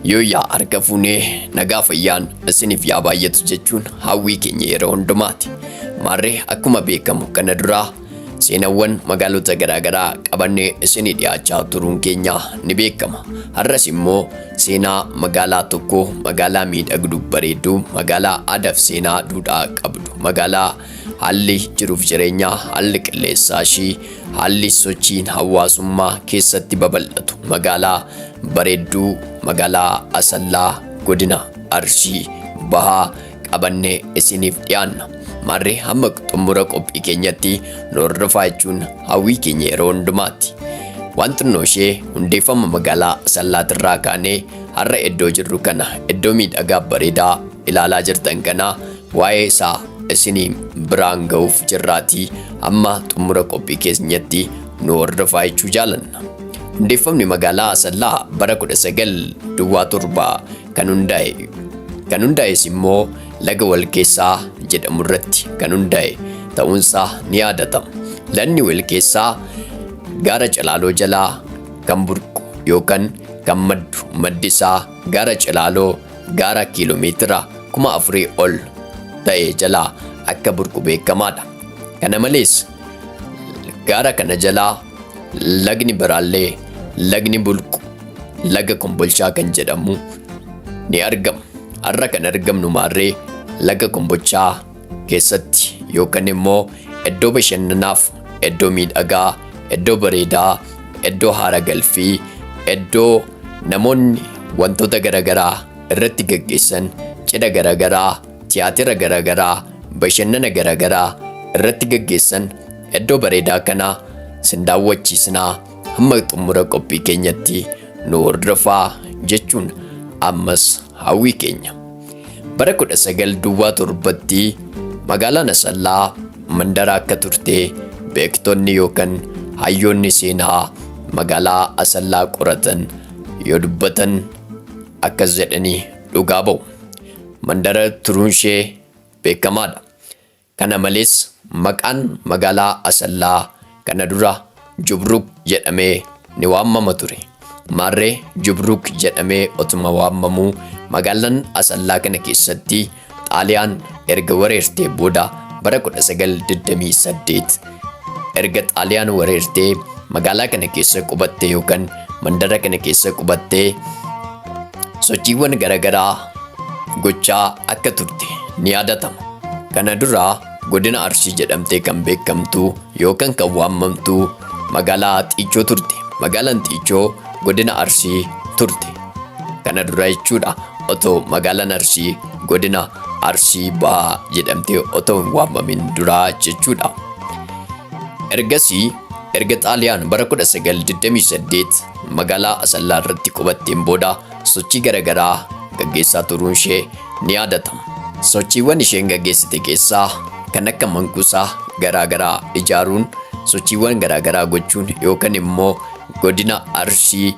Yooyyaa arga fuunee nagaa fayyaan isiniif yaa baay'atu jechuun hawwii keenya yeroo hundumaati. Maarree akkuma beekamu kana duraa seenawwan magaalota garaagaraa qabannee isinii dhiyaachaa turuun keenya ni beekama. Har'as immoo seenaa magaalaa tokko magaalaa miidhagdu bareedduu magaalaa aadaaf seenaa duudhaa qabdu magaalaa Haalli jiruuf jireenyaa, haalli qilleensaa ishii, haalli sochiin hawaasummaa keessatti babal'atu magaalaa bareedduu magaalaa Asallaa godina Arsii bahaa qabannee isiniif dhiyaanna. Maarree hamma xumura qophii keenyatti nu hordofaa jechuun hawwii keenya yeroo hundumaatti. Waan xinnoo ishee hundeeffama magaalaa Asallaatirraa kaanee har'a iddoo jirru kana iddoo miidhagaa bareedaa ilaalaa jirtan kana Waa'ee isaa isiniin biraan ga'uuf jirraatii amma xumura qophii keenyatti nu hordofaa jechuu jaalanna. Hundeeffamni magaalaa Asallaa bara 19 duwwaa torba kan hundaa'e. Kan hundaa'es immoo laga walkeessaa jedhamu irratti kan hundaa'e ta'uunsaa ni yaadatama. Lagni walkeessaa gaara calaaloo jalaa kan burqu yookaan kan maddu maddi isaa Gaara Cilaaloo gaara kiiloomeetira kuma afurii ol ta'e jalaa akka burqu beekamaadha. Kana malees gaara kana jalaa lagni biraallee lagni bulqu laga kombolchaa kan jedhamu ni argama. Har'a kan argamnu maarree laga kombolchaa keessatti yookaan immoo iddoo bashannanaaf iddoo miidhagaa iddoo bareedaa iddoo haara galfii iddoo namoonni wantoota garaagaraa irratti gaggeessan cidha garaagaraa tiyaatira garaagaraa bashannana garaagaraa irratti gaggeessan iddoo bareedaa kana sin daawwachiisnaa hamma xumura qophii keenyatti nu hordofaa jechuun ammas Hawwii keenya. Bara 19 duwwaa torbatti magaalaan Asallaa mandara akka turte beektonni yookaan hayyoonni seenaa magaalaa Asallaa qoratan yoo dubbatan akkas jedhanii dhugaa ba'u. Mandara turuun ishee beekamaadha. Kana malees maqaan magaalaa Asallaa kana dura Jubruuk jedhamee ni waammama ture. Maarree Jubruuk jedhamee otuma waammamuu magaalan Asallaa kana keessatti Xaaliyaan erga wareertee booda bara 1928 Erga Xaaliyaan wareertee magaalaa kana keessa qubattee yookaan mandara kana keessa qubattee sochiiwwan garaagaraa gochaa akka turte ni yaadatama. Kana dura godina Arsii jedhamtee kan beekamtu yookaan kan waamamtu magaalaa Xiichoo turte. Magaalaan Xiichoo godina Arsii turte. Kana dura jechuudha. Otoo magaalaan Arsii godina Arsii Bahaa jedhamtee otoo hin waamamin duraa jechuudha. Ergasii erga Xaaliyaan bara 1928 magaalaa Asallaa irratti qubatteen booda sochii garaagaraa gaggeessaa turuun ishee ni yaadatama. Sochiiwwan isheen gaggeessite keessaa kan akka mankuusaa garaagaraa ijaaruun sochiiwwan garaagaraa gochuun yookaan immoo godina Arsii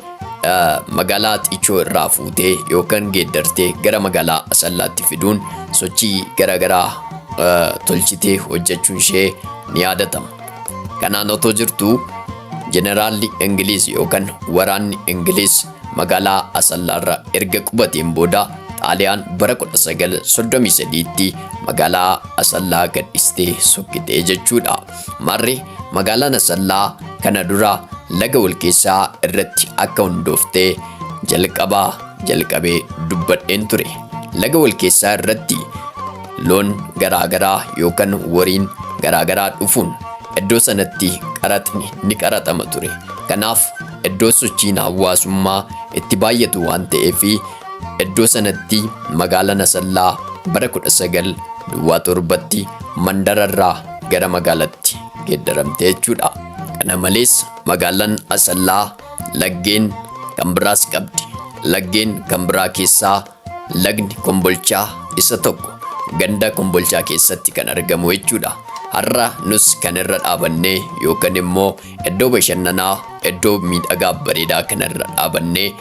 magaalaa Xichoo irraa fuutee yookaan geeddartee gara magaalaa Asallaatti fiduun sochii garaagaraa tolchitee hojjechuun ishee ni yaadatama. Kanaan otoo jirtu jeneraalli Ingiliiz yookaan waraanni Ingiliiz magaalaa Asallaarra erga qubateen booda Xaaliyaan bara 1933tti magaalaa Asallaa gadhistee sokkitee jechuudha. Marri magaalaan Asallaa kana dura laga walkeessaa irratti akka hundoofte jalqaba jalqabee dubbadheen ture. Laga walkeessaa irratti loon garaagaraa yookaan wariin garaagaraa dhufuun iddoo sanatti qaraxni ni qaraxama ture. Kanaaf iddoo sochiin hawaasummaa itti baay'atu waan ta'eef iddoo sanatti magaalaan Asallaa bara 19 duwwaa torbatti mandararraa gara magaalatti geeddaramte jechuudha. Kana malees magaalaan Asallaa laggeen kan biraas qabdi. Laggeen kan biraa keessaa lagni kombolchaa isa tokko ganda kombolchaa keessatti kan argamu jechuudha. Har'a nus kan irra dhaabannee yookaan immoo iddoo bashannanaa iddoo miidhagaa bareedaa kana irra dhaabannee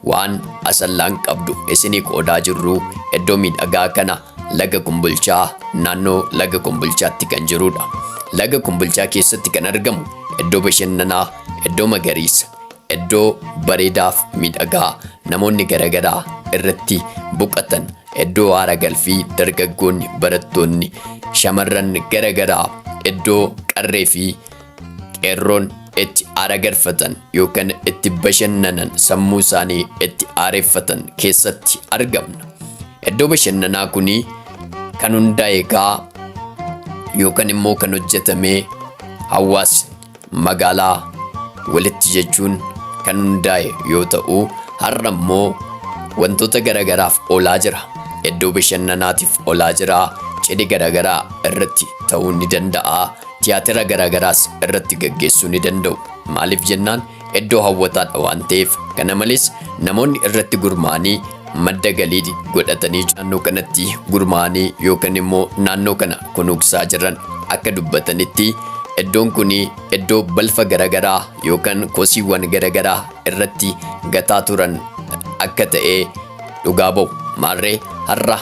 waan asallaan qabdu isinii qoodaa jirru iddoo miidhagaa kana Laga Kumbulchaa naannoo Laga Kumbulchaatti kan jirudha. Laga Kumbulchaa keessatti kan argamu iddoo bashannanaa, iddoo magariisa, iddoo bareedaaf miidhagaa namoonni garaagaraa irratti boqatan, iddoo haara galfii dargaggoonni, barattoonni, shamarran garaagaraa iddoo qarree fi Qeerroon itti aara garfatan yookaan itti bashannanan sammuu isaanii itti aareffatan keessatti argamna. Iddoo bashannanaa kun kan hundaa'e kaa yookaan immoo kan hojjetame hawaasni magaalaa walitti jechuun kan hundaa'e yoo ta'u har'a immoo wantoota garaagaraaf oolaa jira. Iddoo bashannanaatiif oolaa jira. Cidhi garaagaraa irratti ta'uu ni danda'a. Tiyaatira garaagaraas irratti gaggeessuu ni danda'u. Maaliif jennaan iddoo hawwataadha waan ta'eef. Kana malees namoonni irratti gurmaa'anii madda galii godhatanii naannoo kanatti gurmaa'anii yookaan immoo naannoo kana kunuunsaa jiran akka dubbatanitti iddoon kun iddoo balfa garaagaraa yookaan kosiiwwan garaagaraa irratti gataa turan akka ta'e dhugaa ba'u. Maarree har'a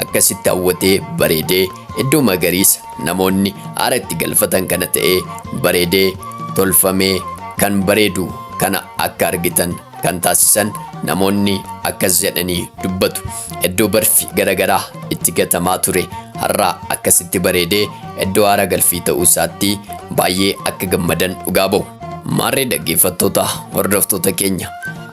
akkasitti hawwatee bareedee iddoo magariisa Namoonni aara itti galfatan kana ta'ee bareedee tolfamee kan bareedu kana akka argitan kan taasisan namoonni akkas jedhanii dubbatu. Iddoo barfi garagaraa itti gatamaa ture har'aa akkasitti bareedee iddoo aara galfii ta'uu isaatti baay'ee akka gammadan dhugaa ba'u. Maarree dhaggeeffattoota hordoftoota keenya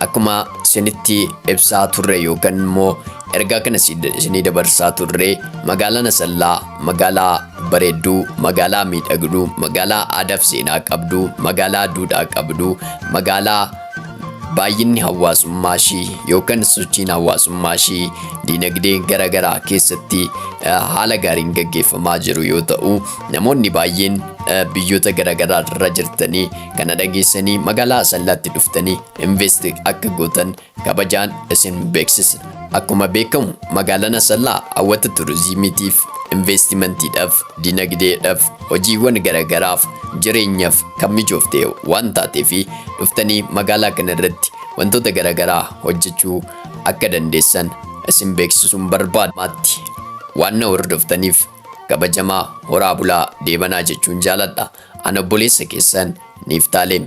akkuma isinitti ibsaa turre yookaan immoo ergaa kana isinii dabarsaa turre magaalaan Asallaa Magaalaa bareedduu, magaalaa miidhagduu, magaalaa aadaaf seenaa qabdu, magaalaa duudhaa qabdu, magaalaa baay'inni hawaasummaa ishii yookaan sochiin hawaasummaa ishii dinagdee gara garaa keessatti eh, haala gaariin gaggeeffamaa jiru yoo ta'u namoonni baay'een eh, biyyoota gara garaa irra jirtanii kana dhageessanii magaalaa asallaatti dhuftanii invest akka gootan kabajaan isin beeksisna. Akkuma beekamu magaalaan Asallaa hawwata turizimiitiif, investimantiidhaaf, dinagdeedhaaf, hojiiwwan garaagaraaf, jireenyaaf kan mijoofte waan taateef dhuftanii magaalaa kana irratti wantoota garaagaraa hojjechuu akka dandeessan isin beeksisuun barbaada. Maatti waan na hordoftaniif kabajamaa horaa bulaa deebanaa jechuun jaaladha. Ana obboleessa keessan Niiftaalem.